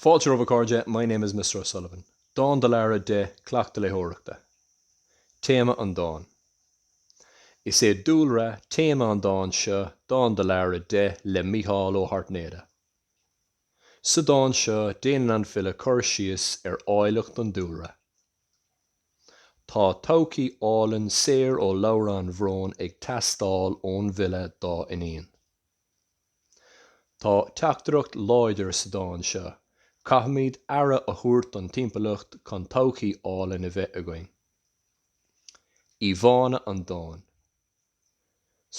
Fáilte romhaibh a chairde, my name is Mister O'Sullivan. Dán do Lara deich, Cleachtadh Léitheoireachta. Téama an dáin. Is é dúlra, téama an dáin seo Dán do Lara deich le Mícheál Ó hAirtnéide. Sa dán seo déanann an file cur síos ar áilleacht an dúlra. Tá todhchaí álainn saor ó shlabhra an bhróin ag teastáil ón bhfile dá iníon. Tá teachtaireacht láidir sa dán seo, caithfimid aire a thabhairt don timpeallacht chun todhchaí álainn a bheith againn. Íomhánna an dáin.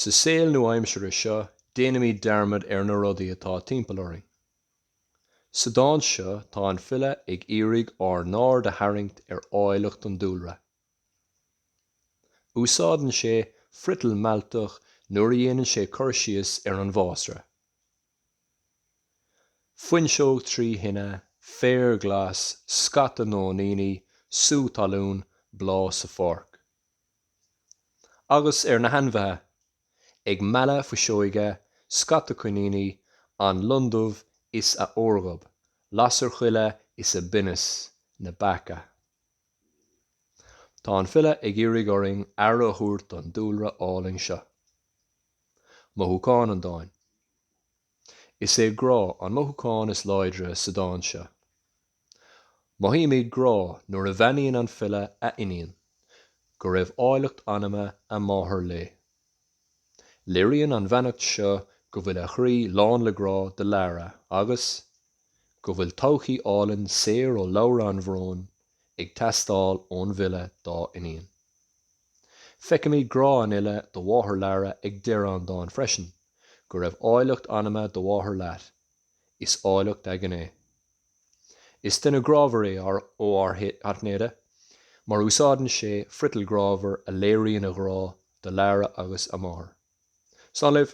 Sa saol nua-aimsire seo, déanaimid dearmad ar na rudaí atá timpeall orainn. Sa dán seo, tá an file ag iarraidh ár n-aird a tharraingt ar áilleacht an dúlra. Úsáideann sé friotal mealltach nuair a dhéanann sé cur síos ar an bhfásra. Fuinseog trí thine, féar glas, scata nóiníní, sú talún, bláth sa pháirc. Agus ar na hainmhithe, ag mealladh fuiseoige, scata coiníní, an lon dubh is a órghob, lasair choille is a binneas, na beacha. Tá an file ag iarraidh orainn aire a thabhairt don dúlra álainn seo. Mothúchán an dáin. Is é grá an mothúchán is láidre sa dán seo. Mothaímid grá nuair a bheannaíonn an file a iníon, go raibh áilleacht anama a máthar léi. Léiríonn an bheannacht seo go bhfuil a chroí lán le grá do Lara agus go bhfuil todhchaí álainn saor ó shlabhra an bhróin ag teastáil ón bhfile dá iníon. Feicimid grá an fhile do mháthair Lara ag deireadh an dáin freisin, 'go raibh áilleacht anama do mháthar leat, is áilleacht a gné'. Is duine grámhar é ár Ó hAirtnéide mar úsáideann sé friotal grámhar a léiríonn a ghrá do Lara agus a máthair. Slán libh.